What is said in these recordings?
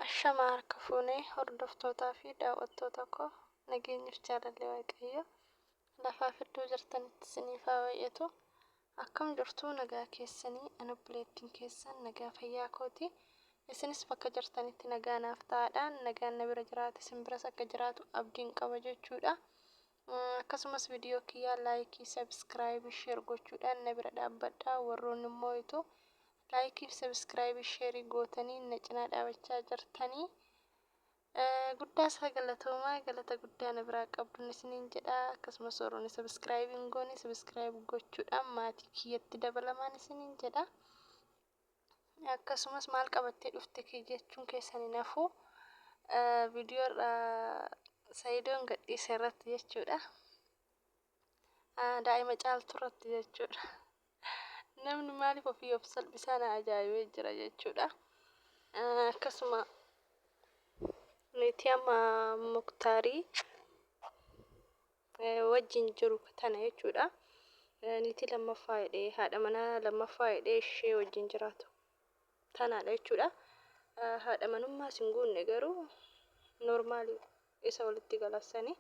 Ashamaa harka fuune hordoftootaa fi daawwattoota koo nageenyif jaalalli waaqayyo lafaa fi iddoo jirtanitti isiniif haa baay'atu akkam jirtuu nagaa keessanii an obboleettiin keessan nagaa fayyaa kooti isinis bakka jirtanitti nagaa naaf ta'aadha nagaan na bira jiraate isin biras akka jiraatu abdiin qaba jechuudha Akkasumas video kiyya like, subscribe, share gochuudhaan na bira dhaabbadhaa warroonni immoo itu like, subscribe, share gootanii na cinaa dhaabachaa jirtanii guddaa isaa galatoomaa galata guddaa na biraa qabdun isiniin jedha akkasumas warroonni subscribe hin goone subscribe gochuudhaan maatii kiyyatti dabalamaan isiniin jedha. akkasumas maal qabattee dhufte kee jechuun keessan hin hafu viidiyoo irra sayidoon gadhiise irratti jechuudha daa'ima caaltu irratti jechuudha namni maaliif ofii of salphisaa na ajaa'ibee jira jechuudha akkasuma nuti amma muktaarii wajjin jiru tana jechuudha. Niitii lammaffaa jedhee haadha manaa lammaffaa jedhee ishee wajjin jiraatu tanaadha jechuudha. Haadha manummaa sin guunne garuu normaali isa walitti galassanii.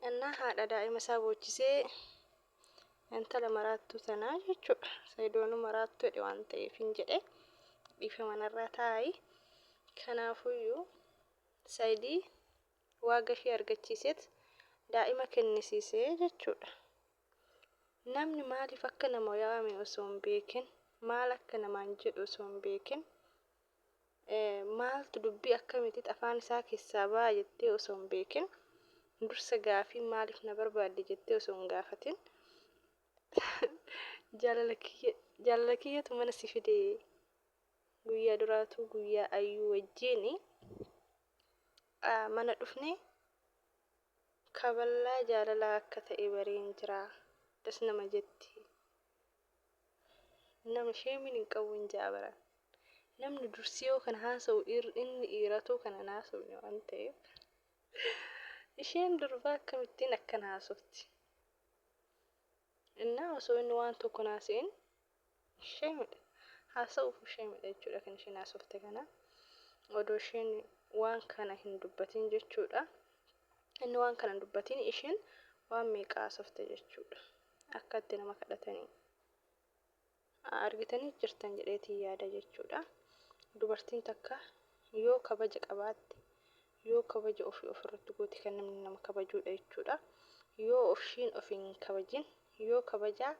Innaa haadha daa'ima isaa boochisee intala maraattuu sanaa jechuudha. Sayidoonu maraattuu jedhe waan ta'eef hin jedhe dhiifama narraa taa'i. Kanaafuyyuu sayidii waaga ishee argachiiseet daa'ima kennisiise jechuudha. Namni maaliif akka nama waame osoo hin beekin, maal akka namaan jedhu osoo hin beekin, maaltu dubbii akkamiitit afaan isaa keessaa ba'a jettee osoo hin beekin, dursa gaafii maaliif na barbaadde jettee osoo hin gaafatin jaalala kiyyatu mana si fide guyyaa duraatuu guyyaa ayyuu wajjiin mana dhufne kaballaa jaalalaa akka ta'e bareen jira das nama jetti nama sheemin hin qabu hin ja'a baran namni dursi yoo kan haasa'u ir- inni dhiiratuu kan hin haasofne waan ta'eef isheen durbaa akkamittiin akkan haasofti innaa osoo inni waan tokko naaseen Ishee midha. Haasa'uuf ishee midha jechuudha kan isheen haasofte kana. Odoo isheen waan kana hin dubbatiin jechuudha. Inni waan kana hin dubbatiin isheen waan meeqa haasofte jechuudha. Akka itti nama kadhatanii. Argitanii jirtan jedheetiin yaada jechuudha. Dubartiin takka yoo kabaja qabaatte yoo kabaja ofii ofirratti goote kan namni nama kabajuudha jechuudha. Yoo ofshiin ofiin hin kabajin yoo kabajaa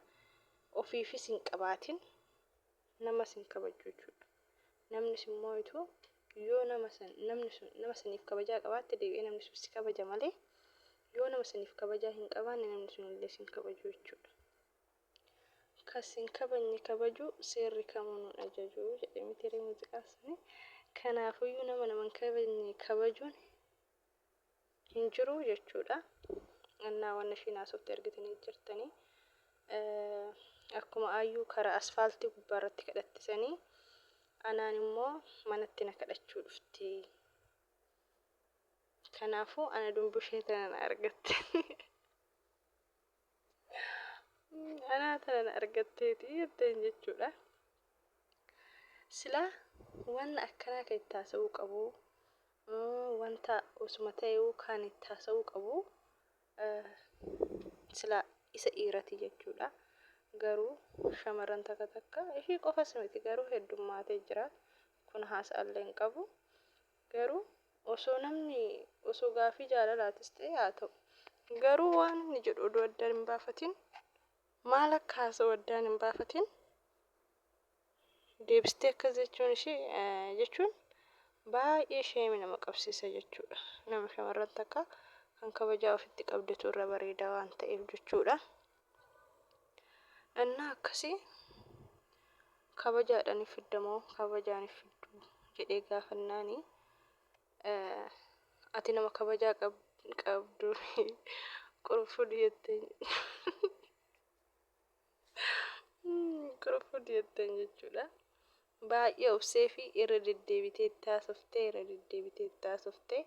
ofiifis hin qabaatin namas hin kabajju jechuudha. Namnis immoo utuu yoo nama san namni sun nama saniif kabajaa qabaatte deebi'ee namni sun si kabaja malee yoo nama saniif kabajaa hin qabaanne namni sun illee sin kabaju jechuudha. Kan sin kabajne kabajuu seerri kamuu nun ajaju jedhe mitiiree muuziqaan suni. Kanaafuyyuu nama nama hin kabajne kabajuun hin jiruu jechuudha. Annaa wanna ishiin haasofte argitanii jirtanii. Akkuma aayyuu karaa asfaaltii gubbaa irratti kadhattisanii anaan immoo manatti na kadhachuu dhufti. Kanaafuu ana dumbushee tanan argatte. Anaa tanan argatteeti jetteen jechuudha. Silaa wanna akkanaa kan itti haasa'uu qabu wanta osuma ta'eewu kan itti haasa'uu qabu silaa isa dhiirati jechuudha. Garuu shamarran takka takka ishii qofas miti garuu heddummaatee jira. Kun haasa'allee hin qabu. Garuu osoo namni osoo gaaffii jaalalaatis ta'e haa ta'u. Garuu waan inni jedhu odoo addaan hin baafatin maal akka haasa'u addaan hin baafatin deebistee akkas jechuun ishee jechuun baay'ee sheemi nama qabsiisa jechuudha. Nama shamarran takka kan kabajaa ofitti qabdetu irra bareeda waan ta'eef jechuudha. Ennaa akkasii kabajaadhaan hin fidda moo kabajaan hin fiddu jedhee gaafannaani ati nama kabajaa qabdu qurufudhi jetteen qurufudhi jetteen jechuudha. Baay'ee obsee fi irra deddeebitee itti haasoftee irra deddeebitee itti haasoftee.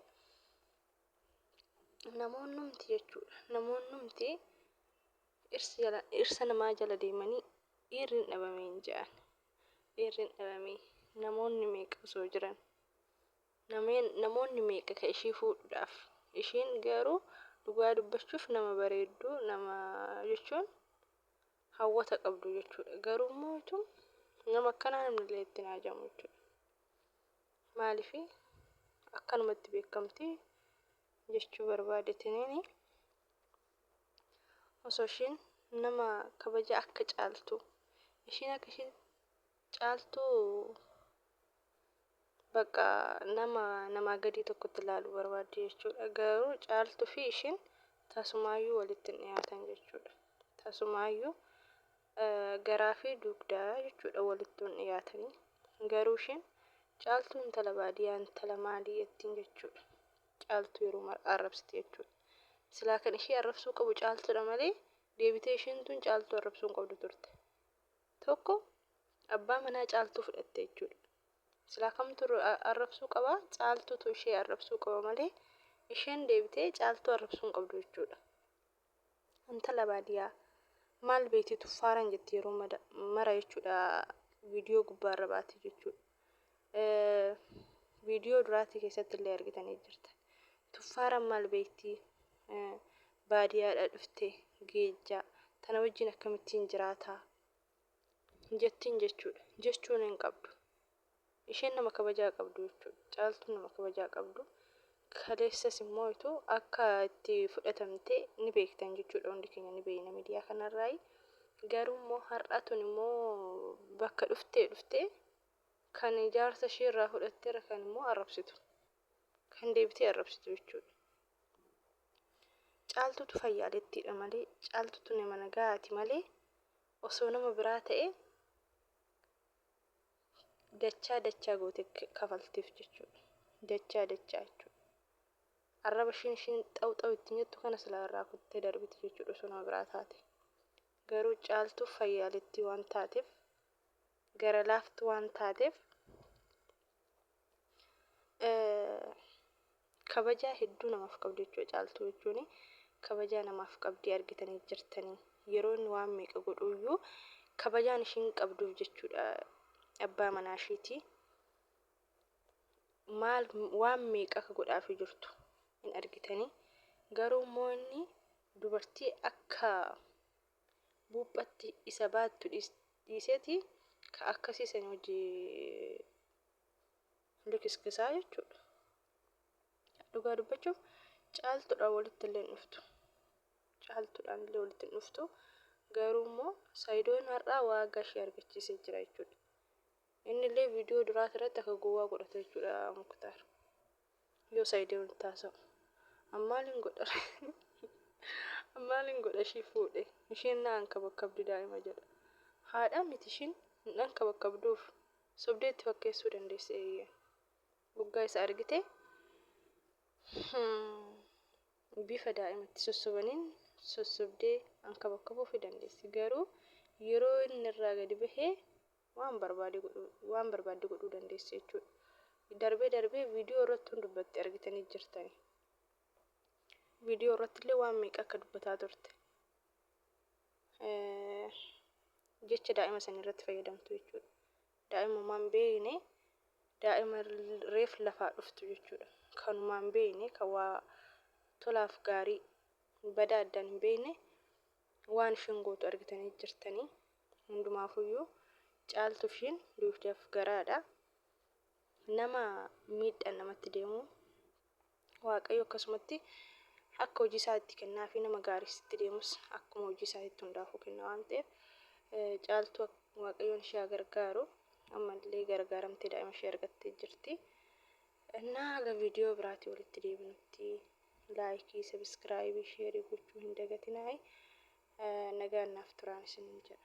Namoonnumti jechuudha. Namoonnumti dhirsa namaa jala deemanii dhiirri hin dhabame hin jedhan. Dhiirri hin dhabame namoonni meeqa osoo jiran namoonni meeqa ka ishii fuudhuudhaaf ishiin garuu dhugaa dubbachuuf nama bareedduu nama jechuun hawwata qabdu jechuudha. Garuu immoo nama akkanaa namni illee itti hin haajamu jechuudha. maalifi akkanumatti beekamti jechuu barbaadetiniini osoo ishiin nama kabaja akka caaltu ishiin akka ishii caaltu bakka nama namaa gadii tokkotti ilaalu barbaaddi jechuudha garuu caaltu fi ishiin tasumaayyuu walitti hin dhiyaatan jechuudha tasumaayyuu garaafi dugda jechuudha walitti yoon dhiyaatanii. Garuu isheen Caaltuu intala baadiyaa intala maalii jettiin jechuudha. Caaltuu yeroo mara arrabsiti jechuudha. Silaa kan ishee arrabsuu qabu caaltuudha malee deebitee isheen tun caaltuu arrabsuu hin qabdu turte. Tokko abbaa manaa caaltuu fudhatte jechuudha. Silaa kamtu arrabsuu qaba caaltuutu ishee arrabsuu qaba malee isheen deebitee caaltuu arrabsuu hin qabdu jechuudha. Intala baadiyaa maal beekti tuffaaran jetti yeroo mada- mara jechuudha viidiyoo gubbaa irra baati jechuudha. Eh, Viidiyoo duraatii keessatti illee argitanii jirta. Tuffaaran maal beekti eh, baadiyaadha dhufte geejjaa tana wajjin akkamittiin jiraataa jettiin jechuudha. Jechuun hin qabdu. Isheen nama kabajaa qabdu jechuudha. Caaltuun nama kabajaa qabdu. Kaleessas immoo itu akka itti fudhatamte ni beektan jechuudha hundi keenya ni beekna miidiyaa kanarraayi. Garuu immoo har'a tun immoo bakka dhuftee dhuftee kan jaarsa ishee irraa fudhatteera kan immoo arrabsitu. Kan deebitee arrabsitu jechuudha. Caaltuutu fayyaalettiidha malee caaltuutu nama nagaati malee osoo nama biraa ta'e dachaa dachaa gootee kafalteef jechuudha. Dachaa dachaa jechuudha. Arraba ishiin ishiin xaw xaw ittiin jettu kana silaa irraa kuttee darbiti jechuudha osoo nama biraa taate. Garuu caaltuu fayyaalittii waan taateef gara laaftu waan taateef Kabajaa hedduu namaaf qabdi jechuudha caaltuu jechuun kabajaa namaaf qabdii argitanii jirtanii yeroo inni waan meeqa godhuu iyyuu kabajaan ishiin qabduuf jechuudha abbaa manaa ishiitii maal waan meeqa akka godhaafii jirtu hin argitanii garuu immoo inni dubartii akka buuphatti isa baattu dhiiseeti ka akkasii san hojii likiskisaa jechuudha. Dhugaa dubbachuuf caaltuudhaan walitti illee hin dhuftu. Caaltuudhaan illee walitti hin dhuftu. Garuu immoo Saayidoon har'aa waa gashee argachiisee jira jechuudha. Inni illee viidiyoo duraa irratti akka gowwaa godhate jechuudha Muktaar. Yoo Saayidoon itti haasa'u. Ammaal hin godha. Ammaal hin godha ishii fuudhe. Isheen na ankabakkabdi daa'ima jedha. Haadha miti ishiin hin ankabakkabduuf. Sobdee itti fakkeessuu dandeessi eeyyee. Guggaa isa argite bifa daa'imatti sossobaniin sossobdee ankabakkabuufi dandeessi. Garuu yeroo inni irraa gadi bahe waan barbaade godhuu waan barbaadde godhuu dandeessi jechuudha. Darbee darbee viidiyoo irratti hin dubbatti argitanii jirtani. Viidiyoo irratti illee waan meeqa akka dubbataa turte. jecha daa'ima sanii irratti fayyadamtu jechuudha. Daa'imumaan beekne daa'ima reef lafaa dhuftu jechuudha. Kanumaan beekne kan waa tolaaf gaarii badaa addaan hin beekne waan ishiin gootu argitanii jirtanii hundumaafuyyuu caaltu ishiin duugdaaf garaadha. nama miidhaan namatti deemu waaqayyo akkasumatti akka hojii isaa itti kennaa fi nama gaarii sitti deemus akkuma hojii isaa itti hundaafuu kenna waan ta'eef eh, caaltuu ak- waaqayyoon ishee haa gargaaru ammallee gargaaramtee daa'ima ishee argattee jirti. Innaa haga viidiyoo biraatii walitti deebinutti laayikii, sabiskiraayibii, sheerii gochuu hin dagatinaayi. Eh, Nagaan naaf turaan isiniin jedha.